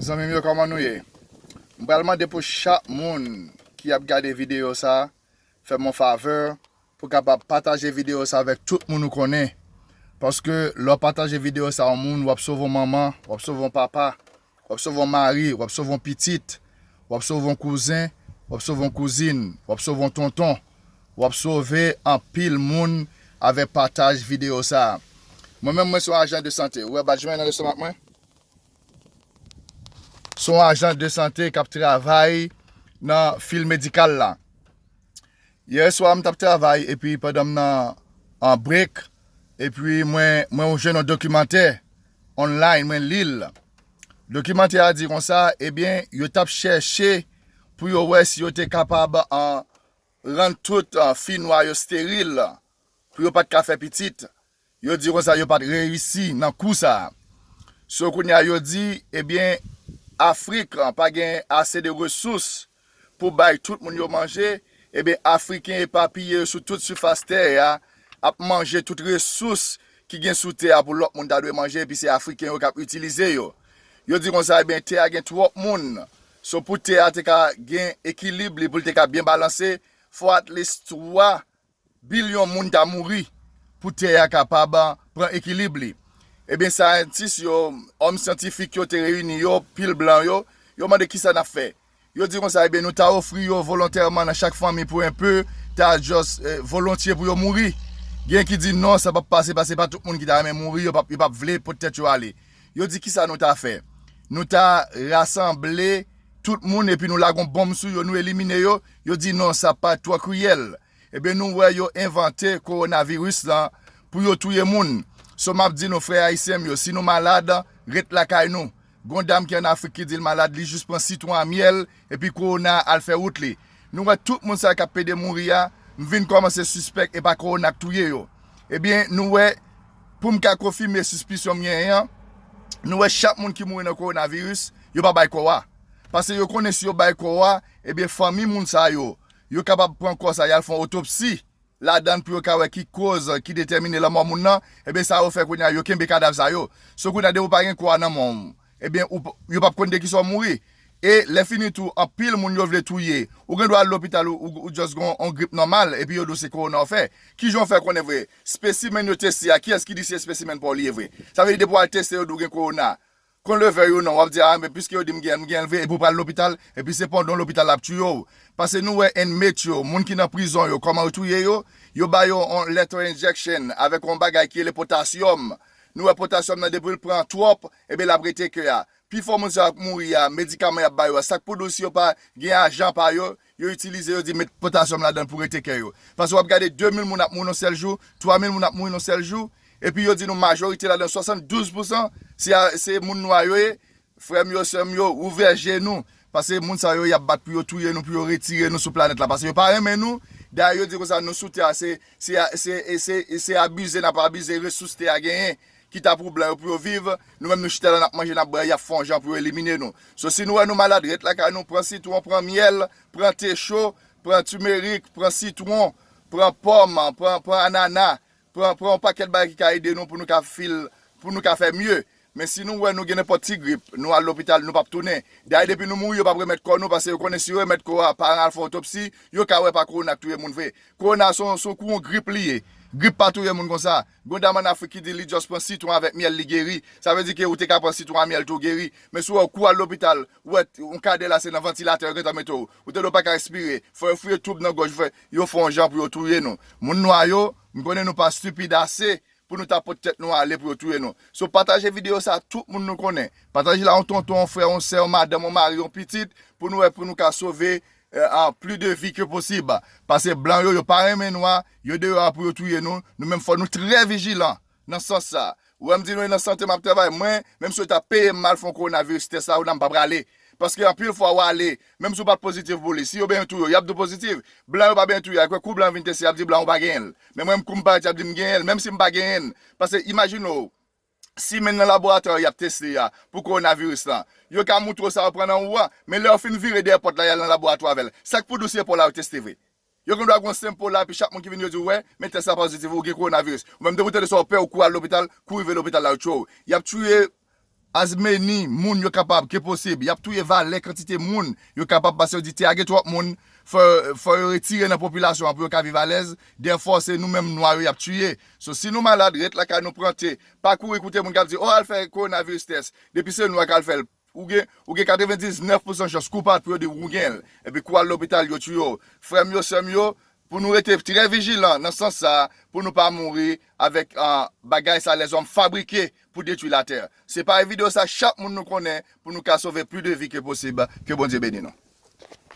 Zanmim yo kòman nou ye m pral mande pou chak moun ki ap gade video sa fèm yon favè pou kapab pataje video sa avèk tout moun ou konnen paske lèw pataje video sa yon moun wap sove yon manman wap sove yon papa wap sove yon mari wap sove yon pitit wap sove yon kouzen wap sove yon kouzin wap sove yon tonton wap sove anpil moun avèk pataj video sa mwen menm mwen son ajan de sante ou wè bat jwen nan lestomak mwen. Se yon ajan de sante kap travay nan fil medikal la. Yè swa m tap travay epi pandan m nan an break epi mwen mwen jwenn yon dokimantè online mwen li l. Dokimantè a di konsa ebyen yo tap chèche pou yo wè si yo te kapab an rann tout fi nwa yo steril pou yo pat ka fè pitit Yo di konsa yo pat reyisi nan kou sa. So kounye a yo di ebyen Afrik pa gen ase de resous pou bay tout moun yo manje, ebyen Afriken epapiye yo sou tout sifas tè a ap manje tout resous ki gen sou tè a pou lòt moun ta dwe manje epi se Afriken yo kap itilize yo. Yo di konsa ebyen tè a gen twòp moun, so pou tè a te ka gen ekilib li pou l te ka byen balanse fò at least 3 Bilyon moun ta mouri pou tè a kapab pran ekilib li. Ebyen syantis yo, òm syantifik yo te reyini yo, pil blan yo, yo mande kisa n ap fè. Yo di konsa, ebyen nou ta ofri yo volontèman nan chak fanmi pou enpe, ta just volontye pou yo mouri. Gen ki di non sa p ap pase paske se pa tout moun ki ta renmen mouri, yo p ap vle pot tèt yo ale. Yo di kisa nou ta fè. Nou ta rasanble tout moun epi nou lage yon bonm sou yo, nou elimine yo. Yo di non sa pa twò kriyèl. Ebyen nou wè yo envante kowonaviris lan pou yo touye moun. So map di nou frè ayisyen m yo si nou malad ret lakay nou. Gon dam ki an afrik ki di l malad li jis pran sitwon a myèl epi kowona a al fè wout li. Nou wè tout moun sa yo kap pede mouri a m vin kòmanse sispèk epa kowona k touye yo. Ebyen nou wè pou m ka konfime sispisyon m genyen an nou wè chak moun ki mouri nan kowonaviris yo pa bay kò a. Pase yo konnen si yo bay kò a Ebyen fanmi moun sa yo, yo kapab pran kò sa yal fon otopsi ladann pou yo ka wè ki koz ki detèmine lanmò moun nan, ebyen sa yo fè kounye a yo kenbe kadav sa yo, so kounye a depi ou pa gen kò a nan menw ebyen ou yo pap konn de kisa ou mouri e lè fini tou anpil moun yo vle touye ou gen dwa al lopital ou just gen yon grip nòmal epi yo di w se kowona ou fè, kijan ou fè konnen vre spesimenn yo teste a kiyès ki di se spesimenn paw li ye vre, sa vle di depi wal teste yo di w gen kowona Kon levè yo non wap di ah men piske yo dim genyenl m genyenl vre epi ou pral lopital epi se pandon lopital lap tuyew pase nou wè inmate yo moun ki nan prizon yo kòman yo touye yo yo ba yo on lethal injection avèk on bagay ki rele potasyòm nou wè potasyòm nan depiw pran twòp ebyen lap rete ke a pifò moun sa yo k mouri a medikaman yap ba yo a sak pou dous yo pa gen ajan pa yo Yo itilize yo di met potasyòm ladan pou rete kè yo. Pase wap gade 2 mil moun ap mouri nan sèl jou, 3 mil moun ap mouri nan sèl jou, epi yo di nou majorite ladan 72 pousan se moun nwa yo ye, frèm yo, sèm yo, ouvè je nou, pase moun sa yo yap bat pou yo touye nou pou yo retire nou sou planèt la, pase yo pa renmen nou, dayè yo di konsa nou sou tè a se abize nap abize resous tè a genyen. Kita pou blan yo pou yo viv, nou menm nou chita la nap manje nap bwè yap fè yon jan pou yo elimine nou. So si nou wè nou malad ret lakay nou pran sitwon, pran myèl, pran te cho, pran timerik, pran sitwon, pran pòm, pran pran anana, pran pran yon pakèt bagay ki ka ede nou pou nou ka feel pou nou ka fè mye. Men si nou wè nou gen nenpòt ti grip, nou al lopital nou pap tounen. Dayè depi nou mouri yo pap remèt kò nou paske yo konnen si yo remèt kò a paran al fè otopsi, yo ka wè pa kowona k touye moun vre. Kowona son son kou yon grip li ye. Grip pa touye moun konsa. Gon dam an afrik ki di li just pran sitron avèk myèl li geri, sa vle di ke ou te ka pran sitron a myèl tou geri, men si w wè ou kou al lopital, ou wè yon kadè la se nan vantilatè yo gentan mete w, ou te dwe pa ka respire, fò yo fouye twoub nan gòj ou, yo fè yon jan pou yo touye nou. Moun nwa yo, m konnen nou pa stupid ase pou nou ta pot tèt nou ale pou yo touye nou. So pataje video sa a tout moun nou konnen, pataje l a yon tonton, yon frè, yon sè, yon madanm, yon mari, yon pitit pou nou wè pou nou ka sove a pli de vi ke posib pase blan yo yo pa renmen nwa yo deyò a pou yo touye nou nou menm fò nou trè vijilan nan sans sa ou wèm di nou e nan sante map travay mwen menm si yo ta peyem mal fon coronavirus tès la ou nan mpa prale paske anpil fwa wale menm si ou pat pozitif pou li si yo benyen touye w yap di w pozitif blan yo pa benyen touye a kwè kou blan vin tese yap di blan ou pa genyen l men mwen m kou m parèt yap di m genyen l menm si m pa genyen l pase imajine w simen nan laboratwa yo y ap teste a pou kowonaviris lan. Yo ka moutre w sa yo pran nan ou a, men lè yo fin vire dèyè pòt la y al nan laboratwa avè l. Sa k pou di w se pa w la yo teste vre? Yo gen dwa gen yon senp ou la epi chak moun ki vini yo di w wè, men tès la pozitiv ou gen kowonaviris. Ou menm depi w tande sa w pè ou kouri al lopital, kou rive lopital la yo tchwe w. Y ap touye as many moun yo kapab ke posib. Y ap touye valè kantite moun yo kapab pase yo di tè a gen twòp moun fò yo retire nan popilasyon an pou yo ka viv alèz. Dèfò se nou menm nwa yo y ap touye So si nou malad ret lakay nou pran te, pa kouri koute moun kap di oh al fè coronavirus test, depi se nou a kal fèl ou gen ou gen 99 pousan chans kou pat pou yo di ou genl epi kou al lopital yo tiyew, frèm yo sèm yo pou nou rete trè vijilan nan sans sa pou nou pa mouri avèk bagay sa lèzòm fabrike pou detwi latè, se pare video sa chak moun nou konnen pou nou ka sove pli de vi ke posib ke Bondye beni nou.